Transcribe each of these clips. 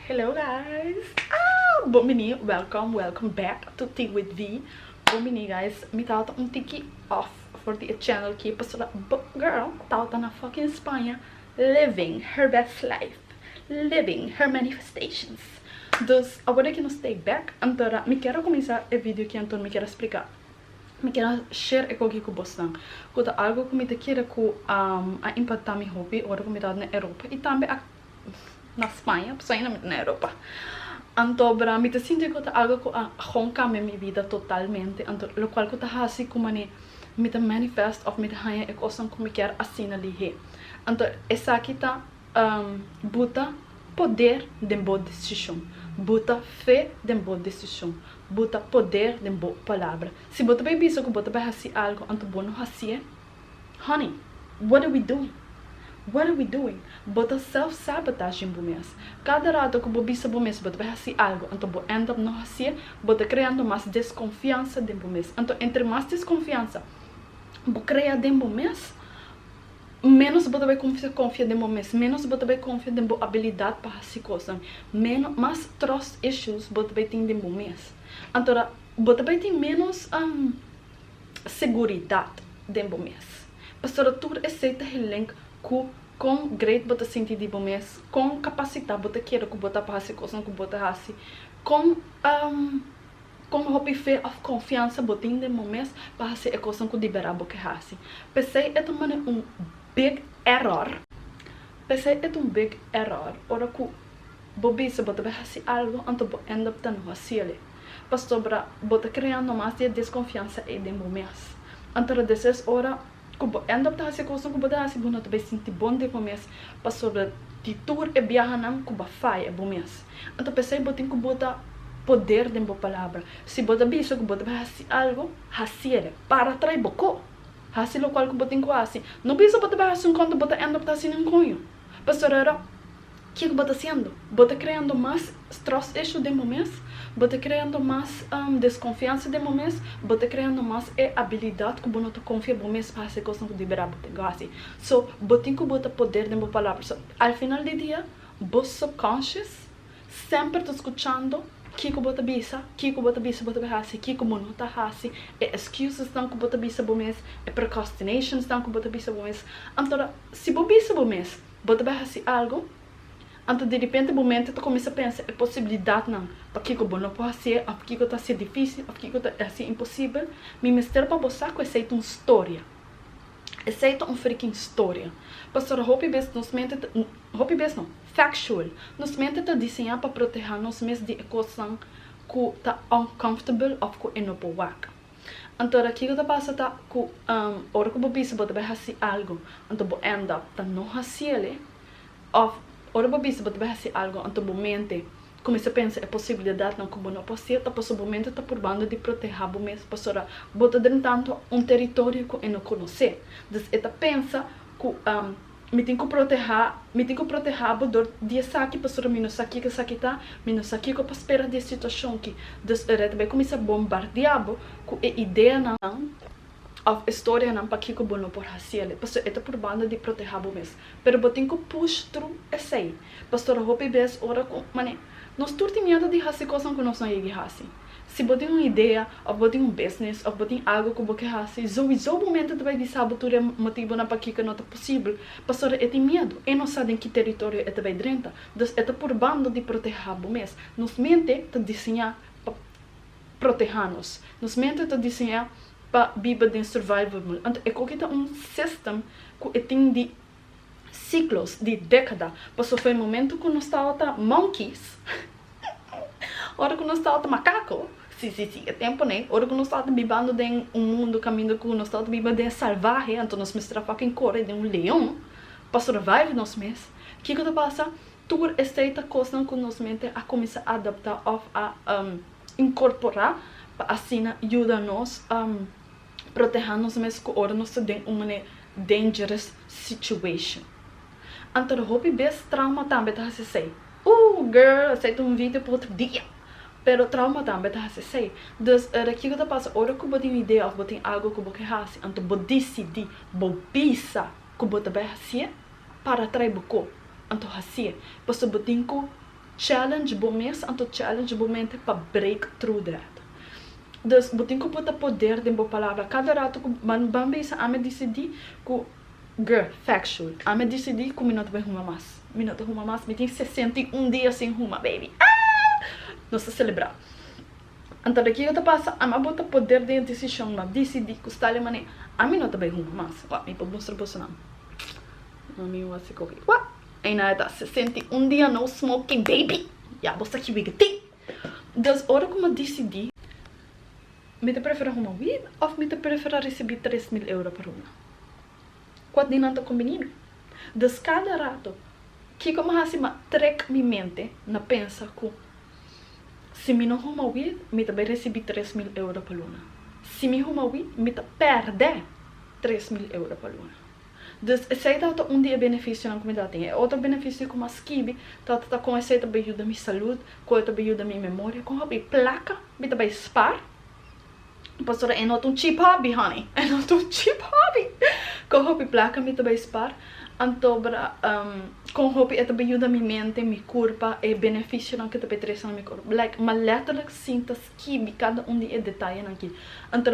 Hello guys ah bon bini welcome welcome back to tea with vee bon bini guys mi tabata un tiki off for di e channel ki pasobra bo girl tabata na fucking Spaña living her best life living her manifestations dus awor deki nos ta e back antora mi ker a kuminsá e video ki anto mi ker a spliká mi ker a share ekoki ku bosnan ku ta algu ku mi ta kere ku a impactá mi hopi ora ku mi tabata na Europa i tambe a na Spaña pasobra ain mi ta na Europa anto bra mi ta sinti ku ta algo ku a gon kambia mi bida totalmente anto lokual ku ta hasi ku manera mi ta manifest òf mi ta haña e kosnan ku mi kier asina lihé anto esaki ta buta poder den bo desishon buta fe den bo desishon buta poder den bo palabra si bo ta bai bisa ku bo ta bai hasi algo anto bo no hasié. Honey, what are we doing? What are we doing? Bo ta self-sabotaging bo mes. Kada rato ku bo bisa bo mes bo ta bai hasi algu, anto bo end up no hasié, bo ta kreando mas deskonfiansa den bo mes. Anto entre mas deskonfiansa bo krea den bo mes, ménos bo ta bai kuminsá konfia den bo mes, ménos bo ta bai konfia den bo abilidat pa hasi kosnan, ménos, mas trust issues bo ta bai tin den bo mes. Anto bo ta bai tin ménos seguridat den bo mes. Pasobra tur esei ta gelenk ku kon gret bo ta sinti di bo mes, kon kapasitat bo ta kere ku bo ta pa hasi kosnan ku bo ta hasi, kon kon hopi fe òf konfiansa bo tin den bo mes pa hasi e kosnan ku di bera bo ke hasi. P'esei e ta manera un big error, p'esei e ta un big error ora ku. Bo bisa bo ta bai hasi algo anto bo end up ta no hasiele pasobra bo ta krea no mas di e deskonfiansa ei den bo mes. Anto ta des es ora ku bo end up ta hasi e kosnan ku bo ta hasi bo no ta bai sinti bon den bo mes pasobra di tur e biahanan ku bo a faya bo mes. Anto p'esei bo tin ku bota poder den bo palabra. Si bo ta bisa ku bo ta bai hasi algo, hasiele. Para trai bo ko. Hasi lokual ku bo tin ku hasi. No bisa bo ta bai hasi un ko anto bo ta end up ta hasi ninkoño pasobra. Ke ku bo ta hasiendo? Bo ta kreando mas trust issue den bo mes, bo ta kreando mas deskonfiansa den bo mes, bo ta kreando mas e abilidat ku bo no ta konfia bo mes pa hasi e kosnan ku di bera bo tin ku hasi. So, bo tin ku bota poder den bo palabra. So, al final di dia, bo subconscious semper ta skuchando ke ku bo ta bisa, ke ku bo ta bisa bo ta bai hasi, ke ku bo no ta hasi, e excusesnan ku bo ta bisa bo mes, e procrastinations nan ku bo ta bisa bo mes. Anto, si bo bisa bo mes. Bo ta bai hasi algu? Anto di ripente bo mente ta kuminsá pensa e posibilidatnan, Pakiko bo no por hasié òf kiko ta hasié difísil òf kiko ta hasié imposibel? Mi mester pa bo sa ku esei ta un storia. Esei ta un frikin storia. Pasobra hopi bes nos mente ta, hopi bes no, factual, nos mente ta diseñá pa protehá nos mes di e kosnan ku ta uncomfortable òf ku e no por wak. Anto ora kiko ta pasa ta ku ora ku bo bisa bo ta bai hasi algu anto bo end up ta no hasiele òf ora bo bisa bo ta bai hasi algu anto bo mente kuminsá pensa e posibilidatnan ku bo no por hasiel ta pasobra bo mente ta purbando di protehá bo mes pasobra bo ta drenta anto un teritorio ku e no konosé. Dus e ta pensa ku Mi tin ku protehá, mi tin ku protehá bo dor di esaki, pasobra mi no sa kico esaki ta, mi no sa kico pa spera di e situacion ki. Dus e rei ta bai kuminsá bombardiá bo ku e ideanan òf e storianan pakico bo no por hasi alí, pasobra e ta purbando di protehá bo mes. Pero bo tin ku push tru esei, pastora hopi bes ora ku, mane, nos tur tin miedu di hasi kosnan ku nos no yegi hasi. Si bo tin un idea of bo tin un business of bo tin algo cu bo ke haci, zoizo bo mente ta bai bisa bo tur e motibonan pakico no ta posibel, pasobra e tin miedo, e no sa den ki territorio e ta bai drenta, dus e ta purbando di proteha bo mes. Nos mente ta diseña pa proteha nos. Nos mente ta diseña pa biba den survival mode. Anto e koki ta un system cu e tin di. Siklos di dekada pasó fo e momentu ku nos tabata monkeys, ora ku nos tabata makako, si, si, si, e temponan, ora ku nos tabata bibando den un mundu kaminda ku nos tabata biba den salvahe, anto nos mester a fucking kore den un leon pa survive nos mes. Kiko ta pasa? Tur esei ta kosnan ku nos mente a kuminsá adaptá òf a inkorporá pa asina yuda nos proteha nos mes ku ora nos ta den un mane dangerous situation. Anto hopi bes trauma tambe ta hasi esei. Ooh girl esei ta un video pa otro dia. Pero trauma tambe ta hasi esei. Dus ora kiko ta pasa ora ku bo tin un idea of bo tin algo ku bo ke hasi anto bo disidi bo bisa ku bo ta bai hasi'e para trai bo ko anto hasi'e pasobra bo tin ku Challenge bo mes anto challenge bo mente pa break through that. Dus bo tin ku puta poder den bo palabra. Kada rato ku ban ban bisa ami a disidi ku gr. Factual ami a disidi ku mi no ta bai huma mas. Mi no ta huma mas. Mi tin sesenta i un dia sin huma baby aah! Nos ta selebrá. Antabe kiko ta pasa ami a bota poder den e desishon. Mi a disidi ku stale manera ami no ta bai huma mas. Wak mi por mustra boso nan. Mami mi wak si koki. Wak! Eina e ta sesenta i un dia no smoking baby ya bo sa ki wid e tin dus ora ku mi disidi mi ta prefera huma wid of mi ta prefera risibi tres mil euro pa ruma kual di nan ta kombini mi dus kada rato kiko mi hasi mi trek mi mente na pensa ku si mi no huma wid mi ta bai risibi tres mil euro pa luna si mi huma wid mi ta perde tres mil euro pa luna. Dus esei tabata un di e benefisionan ku mi tabata tin. E otro benefisio ku mi a skibi tabata ta kon esei ta bai yuda mi salud, kon e ta bai yuda mi memoria, kon hopi plaka mi ta bai spar. Pastora, e no ta un cheap hobby, honey. E no ta un cheap hobby. Kon hopi plaka mi ta bai spar. Anto bra, kon hopi e ta bai yuda mi mente, mi kurpa, e benefisionan ku ta bai trese na mi kurpa. Like, mi a letterlijk sinta. Kibi kada un di e detayenan ki. Anto,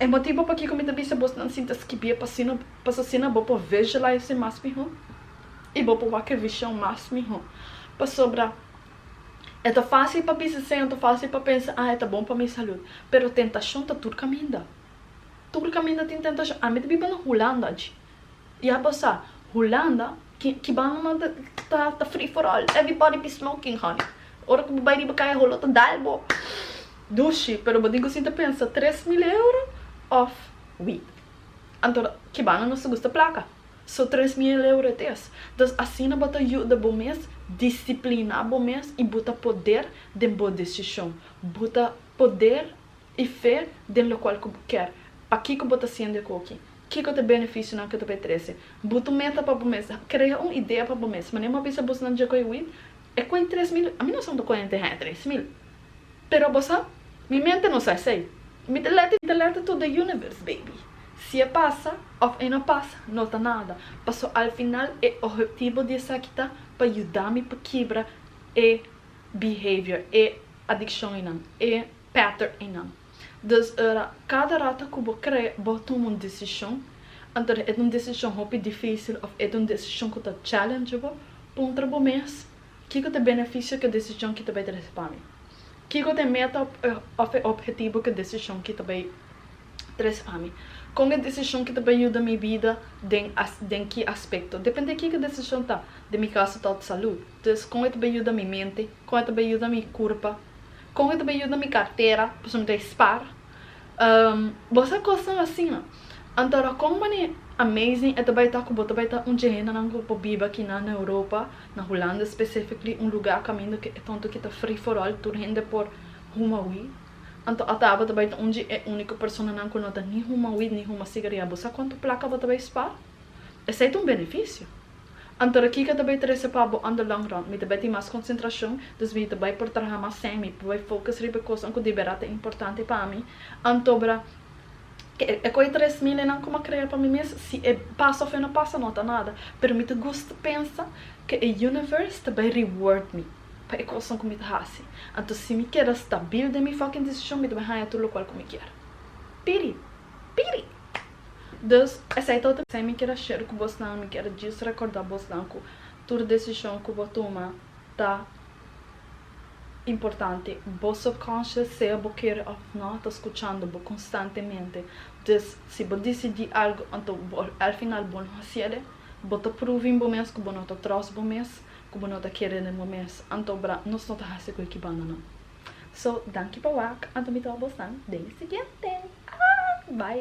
e motibu pakiko mi ta bisa bo nan sinta skibie pasino, pas asina bo por visualize mas mihó i bo por wak e vishon mas mihó. Pasobra e ta fásil pa bisa esei, anto fásil pa pensa, ah e ta bon pa mi salud. Pero tentashon ta tur kaminda. Tur kaminda tin tentashon. Ami ta biba na Hulanda dje. I abo sa, Hulanda Ki banda nan ta free for all everybody be smoking honey ora ku bo bai riba kaya holo ta dal bo dushi pero bo tin ku sinta pensa tres mil euro of weed anto ki banda nos ta gusta plaka so tres mil euro it is entonces asina bo ta yuda bo mes disiplina bo mes i bo ta poder den bo decision bo ta poder i fe den lokual ku bo ker pakiko bo ta siente koki. Kiko ta e benefisionan ku ta pa e trese? Bu ta un meta pa bo mes. Krea un idea pa bo mes. Mane bo bisa busnan dje ku e wit? E koi tres mil? Mi no sa unda koi henter haya tres mil. Pero bo sa? Mi mente no sa esei. Mi ta lèt i ta lèt tur den universe, baby. Si e pasa òf e no pasa, no ta nada. Paso al final e ohetibo di esaki ta pa yuda mi pa kibra e behavior, e adikshon einan, e pattern einan. Dus ora kada rato ku bo krè bo tuma un desishon, anto e ta un desishon hopi difísil òf e ta un desishon ku ta challenge bo, puntra bo mes, Kiko ta e benefisio ku e desishon ki ta bai trese pa mi? Kiko ta e meta òf e ophetibu ku e desishon ki ta bai trese pa mi? Kon e desishon ki ta bai yuda mi bida den den ki aspekto? Depende kiko e desishon ta, den mi kaso ta òf salú, dus kon e ta bai yuda mi mente, kon e ta bai yuda mi kurpa, Con e ta bay yuda mi cartera pasobra mi ta e spar Bo sa cosnan asina Antora con manera amazing e ta bay ta cu bo ta bay ta un dje hendenan cu por biba aki nan na Europa na Hulanda specifically un lugar caminda cu e tonto aki ta free for all tur hende por huma weed Anto ata abo ta bay ta un dje e unico personanan cu no ta ni huma weed ni huma cigaria Bo sa cuanto placa bo ta bay spar? Esey ta un beneficio. Anto ra kiko ta bay trece pa bo on the long run? Mi ta bay tin mas concentracion, dus mi ta bay por traha mas sèn, mi bay focus riba e cosnan cu di bera ta importante pa mi. Antobra ke e coe tres mil enan cu m'a crea pa mi mes, si e pasa of e no pasa no ta nada, pero mi ta gusta pensa ke e universe ta bay reward mi pa e cosnan cu mi ta haci. Anto si mi keda stabil den mi fucking decision, mi ta bay haña tur locual cu mi kier. Piri! Piri! Dus, esei ta otro. Esei mi kier a share ku bosnan, mi kier djis rekorda bosnan ku tur desishon ku bo tuma ta importante. Bo subconscious, sea bo kere òf nò, ta skuchando bo konstantemente. Dus, si bo disidí algu anto bo al final bo no hasi el e, bo ta proving bo mes ku bo no ta tròst bo mes, ku bo no ta kere den bo mes. Anto bra nos no ta hasi ku e ki banda nan. So, danki pa wak, anto mi ta òf bosnan den e siguiente. Bai!